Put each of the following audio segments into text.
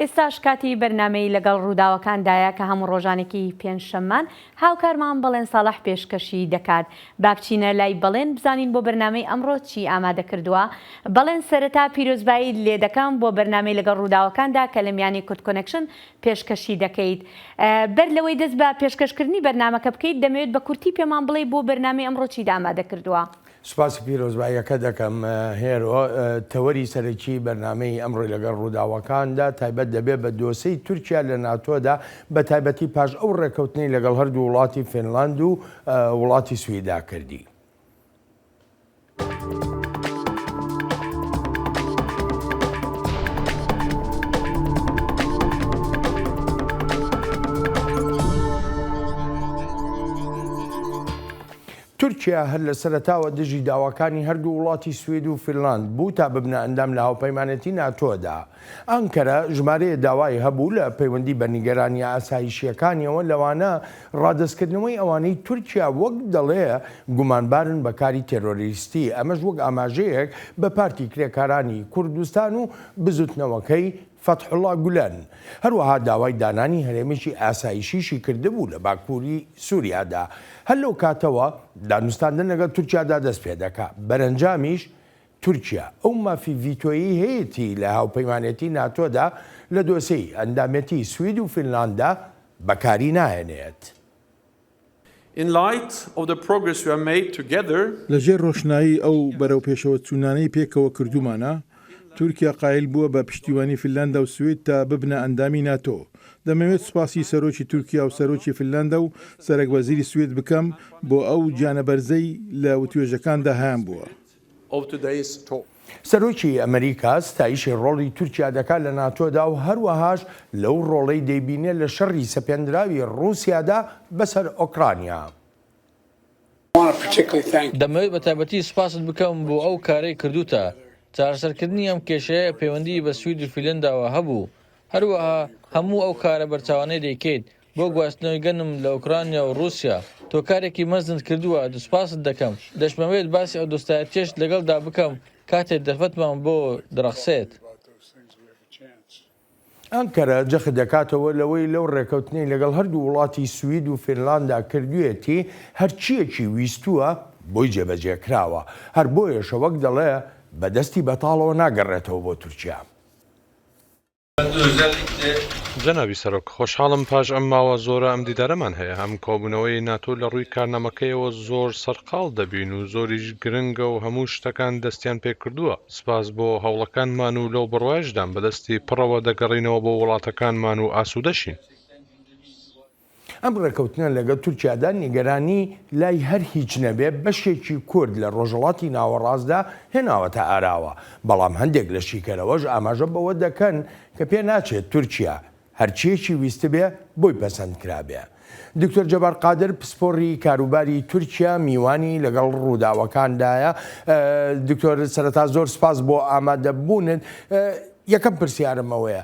ئێستاش کاتی بەرنامەی لەگەڵ ڕووداوەکاندایە کە هەموو ڕۆژانێکی پێنجشەممان هاوکارمان بەڵێن ساڵح پێشکەشی دەکات. با بچینە لای بەڵێن بزانین بۆ بەرنامەی ئەمڕۆ چی ئامادە کردووە. بەڵێن سەرەتا پیرۆزباییت لێ دەکەم بۆ بەرنامەی لەگەڵ ڕووداوەکاندا کە لە میانی کوردکۆنێکشن پێشکەشی دەکەیت. بەر لەوەی دەست بە پێشکەشکردنی بەرنامەکە بکەیت دەمەوێت بە کورتی پێمان بڵێی بۆ بەرنامەی ئەمڕۆ چیت ئامادە کردووە؟ سوپاسی پیرۆزباییەکەت دەکەم هێرۆ. تەوەری سەرەکیی بەرنامەی ئەمڕۆی لەگەڵ ڕووداوەکاندا تایبەت دەبێت بە دۆسێی تورکیا لە ناتۆدا، بەتایبەتی پاش ئەو ڕێککەوتنەی لەگەڵ هەردوو وڵاتی فینلاند و وڵاتی سویدا کردی. تورکیا هەر لە سەرەتاوە دژی داواکانی هەردوو وڵاتی سوید و فینلاند بوو تا ببنە ئەندام لە هاوپەیمانێتی ناتۆدا. ئانکەرە ژمارەیە داوای هەبوو لە پەیوەندی بە نیگەرانییە ئاسایشییەکانیەوە لەوانە ڕادەستکردنەوەی ئەوانەی تورکیا وەک دەڵێ گومانبارن بە کاری تێرۆریستی ئەمەش وەک ئاماژەیەک بە پارتی کرێکارانی کوردستان و بزوتنەوەکەی فەتحوڵا گولەن هەروەها داوای دانانی هەرێمێکی ئاسایشیشی کردبوو لە باکووری سووریادا. هەر لەو کاتەوە دانوستاندن لەگەڵ تورکیادا دەست پێ دەکا. بەرەنجامیش تورکیا ئەو مافی ڤیتۆیەی هەیەتی لە هاوپەیمانێتی ناتۆدا لە دۆسێی ئەندامێتی سوید و فینلانددا بەکاری ناهێنێت. لە ژێر ڕۆشنایی ئەو بەرەوپێشەوەچوونانەی پێکەوە کردوومانە، تورکیا قایل بووە بە پشتیوانی فنلاندا و سوید تا ببنە ئەندامی ناتۆ. دەمەوێت سوپاسی سەرۆکی تورکیا و سەرۆکی فنلاندا و سەرەکوەزیری سوید بکەم بۆ ئەو گیانەبەرزەی لە وتوێژەکاندا هەیانبووە. سەرۆکی ئەمریکا ستایشی ڕۆڵی تورکیا دەکات لە ناتۆدا و هەروەهاش لەو ڕۆڵەی دەیبینێت لە شەڕی سەپێندراوی ڕووسیادا بەسەر ئۆکرانیا. دەمەوێت بە تایبەتی سوپاست بکەم بۆ ئەو کارەی کردووتە. چارەسەرکردنی ئەم کێشەیە پەیوەندیی بە سوید و فیلەنداوە هەبوو، هەروەها هەموو ئەو کارە بەرچاوانەی دەیکەیت بۆ گواستنەوەی گەنم لە ئۆکرانیا و ڕووسیا. تۆ کارێکی مەزنت کردووە، سوپاست دەکەم. دەشمەوێت باسی ئەو دۆستایەتییەشت لەگەڵدا بکەم کاتێ دەرفەتمان بۆ دڕەخسێت. ئەنقەرە جەخت دەکاتەوە لەوەی لەو ڕێکەوتنەی لەگەڵ هەردوو وڵاتی سوید و فینلاندا کردوویەتی، هەرچییەکی ویستووە بۆی جێبەجێ کراوە. هەر بۆیەشە وەک دەڵێ بە دەستی بەتاڵەوە ناگەڕێتەوە بۆ تورکیا. جەنابی سەرۆک، خۆشحاڵم پاش ئەم ماوە زۆرە ئەم دیدارەمان هەیە، ئەم کۆبوونەوەی ناتۆ لە ڕووی کارنامەکەیەوە زۆر سەرقاڵ دەبین و زۆریش گرنگە و هەموو شتەکان دەستیان پێکردووە، سپاس بۆ هەوڵەکانمان و لەو بڕوایەشدام بەدەستی پڕەوە دەگەڕینەوە بۆ وڵاتەکانمان و ئاسوودەشین. ئەم ڕێکەوتنە لەگەڵ تورکیادا نیگەرانی لای هەر هیچ نەبێت بەشێکی کورد لە ڕۆژهەڵاتی ناوەڕاستدا هێناوەتە ئاراوە، بەڵام هەندێک لە شیکەرەوەش ئاماژە بەوە دەکەن کە پێناچێت تورکیا هەرچییەکی ویستبێ بۆی پەسەند کرابێ. دکتۆر جەبار قادر پسپۆڕی کاروباری تورکیا میوانی لەگەڵ ڕووداوەکاندایە دکتۆر سەرەتا زۆر سپاس بۆ ئامادەبوونت یەکەم پرسیارمەوەیە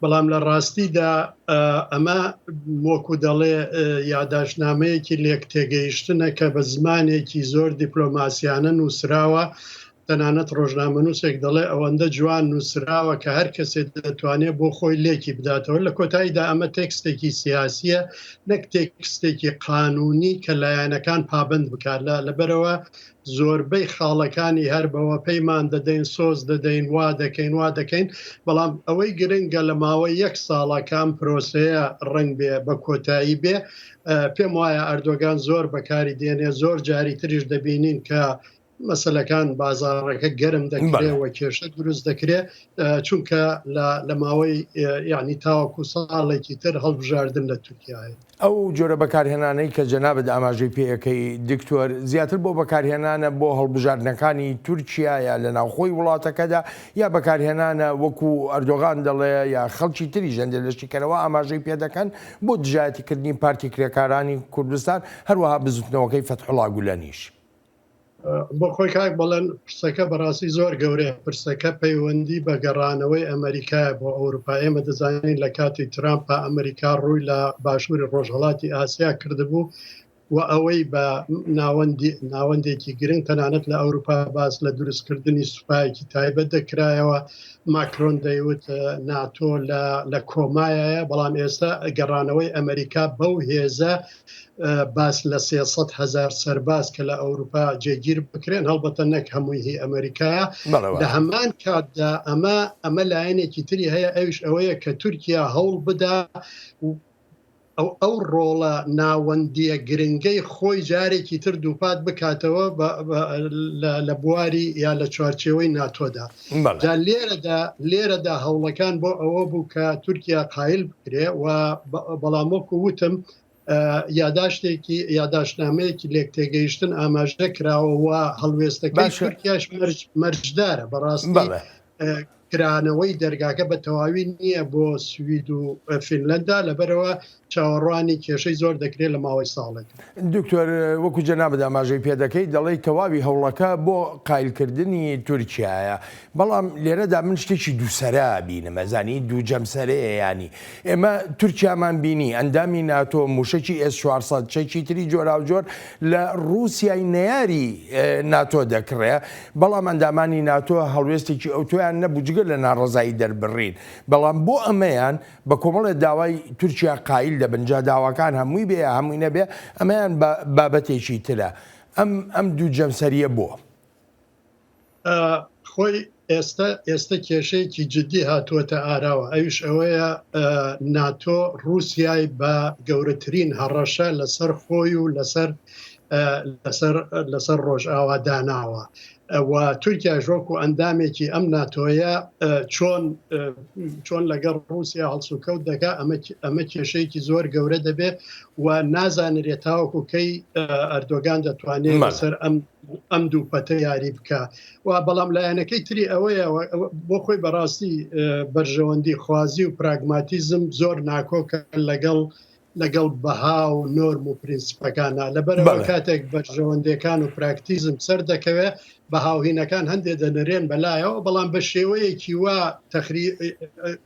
بەڵام لە ڕاستیدا ئەمە وەکو دەڵێ یاداشنامەیەکی لێک تێگەیشتنە کە بە زمانێکی زۆر دیپلۆماسیانە نووسراوە تەنانەت ڕۆژنامە نووسێک دەڵێ ئەوەندە جوان نووسراوە کە هەر کەسێت دەتوانێت بۆ خۆی لێکی بداتەوە لە کۆتاییدا ئەمە تێکستێکی سیاسیە نەک تێکستێکی قانونی کە لایەنەکان پابند بکات لە لەبەرەوە زۆربەی خاڵەکانی هەر بەوە پەیمان دەدەین، سۆز دەدەین، وا دەکەین، وا دەکەین، بەڵام ئەوەی گرنگە لە ماوەی یەک ساڵە کە ئەم پرۆسەیە ڕەنگ بێ بە کۆتایی بێ. پێم وایە ئەردۆگان زۆر بەکاری دێنێ، زۆر جاری تریش دەبینین کە مەسەلەکان بازاڕەکە گەرم دەکرێ و کێشە دروست دەکرێ، چونکە لە ماوەی یانی تاوەکو ساڵێکی تر هەڵبژاردن لە تورکیا هەیە. ئەو جۆرە بەکارهێنانەی کە جەنابت ئاماژەی پێ ئەکەی دکتۆر، زیاتر بۆ بەکارهێنانە بۆ هەڵبژاردنەکانی تورکیایە لە ناوخۆی وڵاتەکەدا، یا بەکارهێنانە وەکو ئەردۆغان دەڵێ یا خەڵکی تریش هەندێ لە شیکەرەوە ئاماژەی پێ دەکەن بۆ دژایەتیکردنی پارتی کرێکارانی کوردستان، هەروەها بزوتنەوەکەی فەتحوڵا گولەنیش. بۆ خۆی کاک بەڵێن پرسەکە بەڕاستی زۆر گەورەیە پرسەکە پەیوەندی بە گەڕانەوەی ئەمریکای بۆ ئەوروپا ئێمە دەزانین لە کاتی ترامپا ئەمریکا ڕووی لە باشووری ڕۆژهڵاتی ئاسیا کردبوو و ئەوەی بە ناوەندی ناوەندێکی گرنگ تەنانەت لە ئەوروپا باس لە دروستکردنی سوپایەکی تایبەت دەکرایەوە ماکرۆن دەیوت ناتۆ لە کۆمایە بەڵام ئێستا گەڕانەوەی ئەمریکا بەو هێزە باس لە سێ سەد هەزار سەرباز کە لە ئەوروپا جێگیر بکرێن هەڵبەتە نەک هەمووی هی ئەمریکایە لە هەمان کاتدا ئەمە ئەمە لایەنێکی تری هەیە ئەوش ئەوەیە کە تورکیا هەوڵ بدا ئەو ئەو ڕۆڵە ناوەندیە گرنگەی خۆی جارێکی تر دووپات بکاتەوە لە بواری یا لە چوارچێوەی ناتۆدا جا لێرەدا لێرەدا هەوڵەکان بۆ ئەوە بوو کە تورکیا قایل بکرێ و بەڵام وەکو وتم یاداشتێکی یاداشتنامەیەکی لێک تێگەیشتن ئاماژە کراوە و هەڵوێستەکەی تورکیاش مەرجدارە بەڕاستی کرانەوەی دەرگاکە بە تەواوی نییە بۆ سوید و فینلەندا لەبەرەوە چاوەڕوانی کێشەی زۆر دەکرێت لە ماوەی ساڵێکدا. دکتۆر وەکو جەنابت ئاماژەی پێدەکەیت دەڵێیت تەواوی هەوڵەکە بۆ قایلکردنی تورکیایە بەڵام لێرەدا من شتێکی دووسەرە بینم ئەزانی دوو جەمسەرەیە ینی ئێمە تورکیامان بینی ئەندامی ناتۆ موشەکی ئێس 400 چەکی تری جۆراوجۆر لە رووسای نەیاری ناتۆ دەکڕێ بەڵام ئەندامانی ناتۆ هەڵوێستێکی ئەوتۆیان نەبوو جگە لە ناڕزایی دەربڕین بەڵام بۆ ئەمەیان بە کۆمەڵێ داوای تورکیا قایل دەبن، جا داواکان هەمووی بێ یا هەمووی نەبێ ئەمەیان بابەتێکی ترە. ئەم ئەم دوو جەمسەرییە بۆ؟ خۆی ئێستا ئێستا کێشەیەکی جددی هاتووەتە ئاراوە، ئەویش ئەوەیە ناتۆ ڕووسیای بە گەورەترین هەڕەشە لەسەر خۆی و لەسەر لەسەر لەسەر ڕۆژئاوا داناوە. و تورکیاش وەکو ئەندامێکی ئەم ناتۆیە چۆن لەگەڵ ڕوسیا هەڵسوکەوت دەکا ئەمە کێشەیەکی زۆر گەورە دەبێت و نازانرێت تاوەکو کەی ئەردۆگان دەتوانێت لەسەر ئەم ئەم دوو پەتە یاری بکە و بەڵام لایەنەکەی تری ئەوەیە بۆ خۆی بەڕاستی بەرژەوەندی خوازی و پراگماتیزم زۆر ناکۆکە لەگەڵ لەگەڵ بەها و نۆرم و پرینسیپەکانا، لەبەرئەوە کاتێک بەرژەوەندێکان و پراکتیزم سەر دەکەوێ، بەها و هینەکان هەندێ دەنرێن بە لایەوە، بەڵام بە شێوەیەکی وا تەخری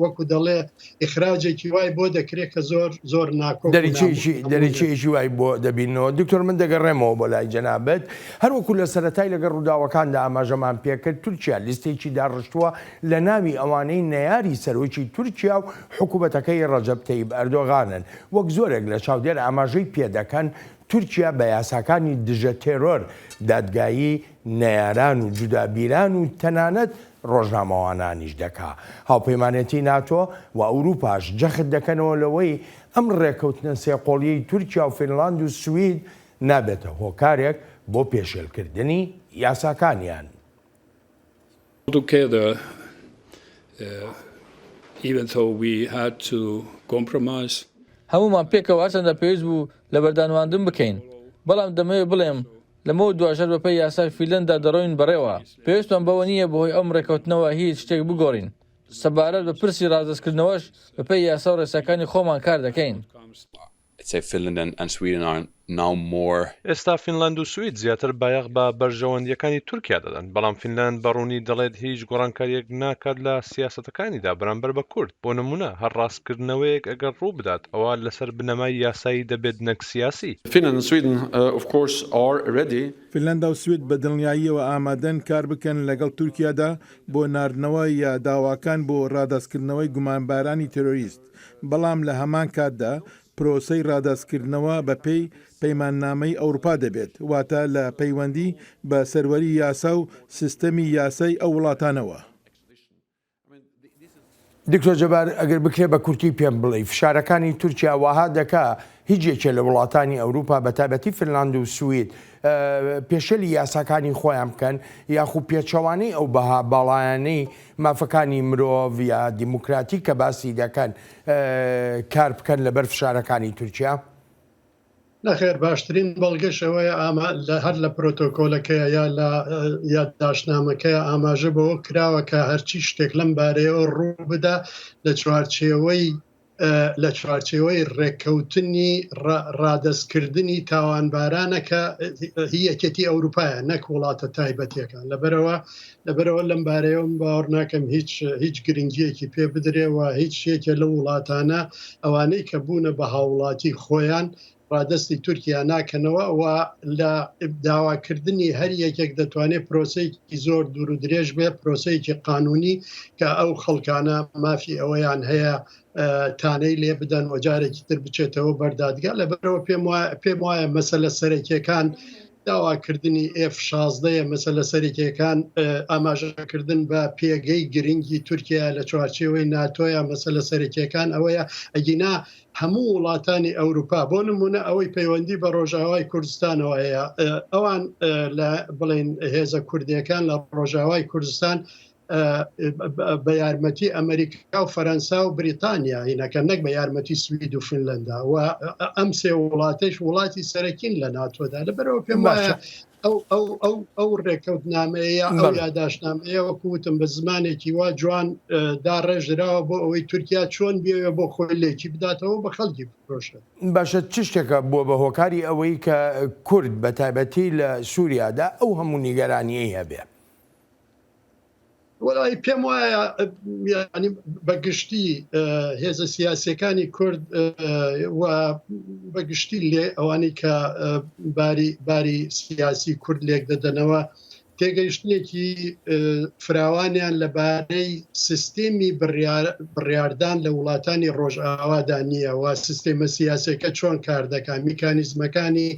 وەکو دەڵێ ئیخراجێکی وای بۆ دەکرێ کە زۆر زۆر ناکۆک و نامۆ. دەریچەیەکی دەریچەیەکی وای بۆ دەبینەوە. دکتۆر من دەگەڕێمەوە بۆ لای جەنابت. هەر وەکو لە سەرەتای لەگەڵ ڕووداوەکاندا ئاماژەمان پێکرد، تورکیا لیستێکی داڕشتووە لە ناوی ئەوانەی نەیاری سەرۆکی تورکیا و حکومەتەکەی ڕەجەب تەیب ئەردۆغانن وەک زۆرێک لە چاودێر ئاماژەی پێدەکەن، تورکیا بە یاساکانی دژە تێرۆر، دادگایی نەیاران و جودابیران و تەنانەت ڕۆژنامەوانانیش دەکا. هاوپەیمانێتی ناتۆ و ئەوروپاش جەخت دەکەنەوە لەوەی ئەم ڕێکەوتنە سێ قۆڵیەی تورکیا و فینلاند و سوید نابێتە هۆکارێک بۆ پێشێلکردنی یاساکانیان. Although Keder Even though we had to compromise. هەموومان پێکەوە هەرچەندە پێویست بوو لەبەردانواندن بکەین، بەڵام دەمەوێت بڵێم لەمەو دواژەر بەپێی یاسای فیلەندا دەڕۆین بەڕێوە، پێویستمان بەوە نییە بەهۆی ئەم ڕێکەوتنەوە هیچ شتێک بگۆڕین، سەبارەت بە پرسی ڕادەستکردنەوەش بەپێی یاسا و ڕێساکانی خۆمان کار دەکەین. ئێستا فینلاند و سوید زیاتر بایەخ بە بەرژەوەندییەکانی تورکیا دەدەن، بەڵام فینلاند بە ڕوونی دەڵێت هیچ گۆڕانکارییەک ناکات لە سیاسەتەکانیدا بەرامبەر بە کورد، بۆ نموونە هەر ڕاستکردنەوەیەک ئەگەر ڕوو بدات ئەوا لەسەر بنەمای یاسایی دەبێت نەک سیاسی. فینلاندا و سوید بە دڵنیاییەوە ئامادەن کار بکەن لەگەڵ تورکیادا بۆ ناردنەوە یا داواکان بۆ ڕادەستکردنەوەی گومانبارانی تێرۆریست. بەڵام لە هەمان کاتدا پرۆسەی ڕادەستکردنەوە بە پێی پەیماننامەی ئەوروپا دەبێت، واتە لە پەیوەندی بە سەروەری یاسا و سیستەمی یاسای ئەو وڵاتانەوە. دکتۆر جەبار ئەگەر بکرێ بە کورتی پێم بڵێی فشارەکانی تورکیا واها دەکا هیچ یەکێ لە وڵاتانی ئەوروپا بە تایبەتی فنلاند و سوید پێشێلی یاساکانی خۆیان بکەن یاخو پێچەوانەی ئەو بەها باڵایانەی مافەکانی مرۆڤ یا دیموکراتی کە باسی دەکەن کار بکەن لەبەر فشارەکانی تورکیا؟ نەخێر باشترین بەڵگەشەوەیە ئاما لە هەر لە پرۆتۆکۆلەکەیە یا لە یادداشتنامەکەی ئاماژە بۆ کراوە کە هەرچی شتێک لەم بارەیەوە ڕوو بدا لە چوارچێوەی لە چوارچێوەی ڕێککەوتنی ڕادەستکردنی تاوانبارانەکە یەکێتی ئەوروپایە نەک وڵاتە تایبەتەکان لەبەرەوە لەبەرەوە لەم بارەیەم باوەڕ ناکەم هیچ هیچ گرنگیەکی پێ بدرێەوە هیچ شێکە لە وڵاتانە ئەوانەی کە بوونە بە هاوڵاتی خۆیان ڕادەستی تورکیا ناکەنەوە و لە داواکردنی هەر یەکێک دەتوانێت پرۆسەیەکی زۆر دوور و درێژ بێ پرۆسەیەکی قانونی کە ئەو خەڵکانە مافی ئەوەیان هەیە تانەی لێ بدەن و جارێکی تر بچێتەوە بەردادگا لە بەرەوە پێم پێم وایە مەسە لە سەرەکیەکان داواکردنی F شازدەیە مەسە لە سەرکیەکان ئاماژەکردن بە پێگەی گرنگی تورکیا لە چوارچێوەی ناتۆیا مەسە لە سەرکیەکان ئەوەیە ئەگینا هەموو وڵاتانی ئەوروپا بۆ نمونە ئەوەی پەیوەندی بە ڕۆژاوای کوردستانەوە هەیە ئەوان لە بڵێن هێزە کوردیەکان لە ڕۆژاوای کوردستان بە یارمەتی ئەمریکا و فەەنسا و بریتانیا هینەکە نەک بە یارمەتی سوید و فنلندا و ئەم سێ وڵاتش وڵاتی سەرەکین لە ناتۆدا لە بەرەوە پێم وایە ئەو ئەو ئەو ئەو ڕێکەوتنامەیە ئەو یاداشنامەیە وەکو وتم بە زمانێکی وا جوان داڕێژراوە بۆ ئەوەی تورکیا چۆن بێ بۆ خۆی لێکی بداتەوە بە خەڵکی بفرۆشن باشە چ شتێکە بووە بە هۆکاری ئەوەی کە کورد بە تایبەتی لە سووریادا ئەو هەموو نیگەرانیی هەبێ؟ وەڵایی پێم وایە یانی بە گشتی هێزە سیاسەکانی کورد و بە گشتی لێ ئەوانی کە باری باری سیاسی کورد لێک دەدەنەوە تێگەیشتنێکی فراوانیان لەبارەی سیستمی بڕاردان لە وڵاتانی ڕۆژئاوادا نییە و سیستێمە سیاسەکە چۆن کار دەکات میکانیزمەکانی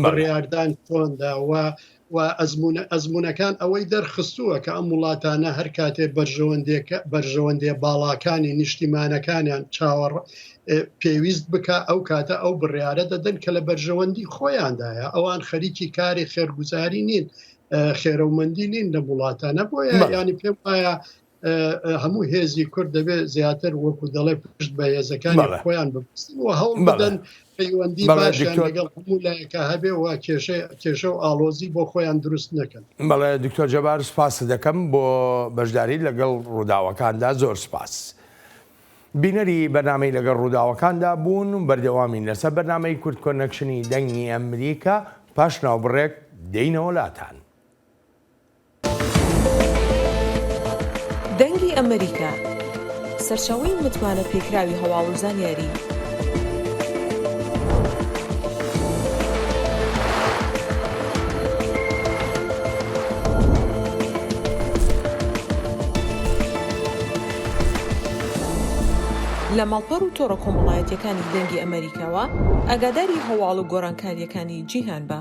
بڕاردان چۆنداوە و ئەزموونەکان ئەوەی دەرخستووە کە ئەم وڵاتانە هەر کاتێ بەرژەوەندێ باڵاکانی نیشتیمانەکانیان چاوەڕ پێویست بکە ئەو کاتە ئەو بڕیاە دەدەن کە لە بەرژەوەندی خۆیاندایە ئەوان خەریکی کاری خێرگوزاری نین خێرەومەندی نین لە وڵاتانە بۆیە ینی پێم وایە هەموو هێزی کورد دەبێت زیاتر وەکو دەڵێ پشت بە هێزەکانی خۆیان بپستن و هەوڵ بدەن پەیوەندی باشیان لەگەڵ هەموو لایەکە هەبێ و کێشە کێشە و ئاڵۆزی بۆ خۆیان دروست نەکەن بەڵێ دکتۆر جەبار سپاس دەکەم بۆ بەشداری لەگەڵ ڕووداوەکاندا زۆر سپاس. بینەری بەنامەی لەگەڵ ڕووداوەکاندا بوون و بەردەوامین لەسەر بەنامەی کورد کۆنەکشنی دەنگی ئەمریکا پاش ناوبڕێک دەینەوە لاتان. دەنگی ئەمەریکا، سەرچاوەی متمانە پێکراوی هەواڵ و زانیاری. لە ماڵپەڕ و تۆڕە کۆمەڵایەتیەکانی دەنگی ئەمەریکاوە ئاگاداری هەواڵ و گۆڕانکاریەکانی جیهان بە.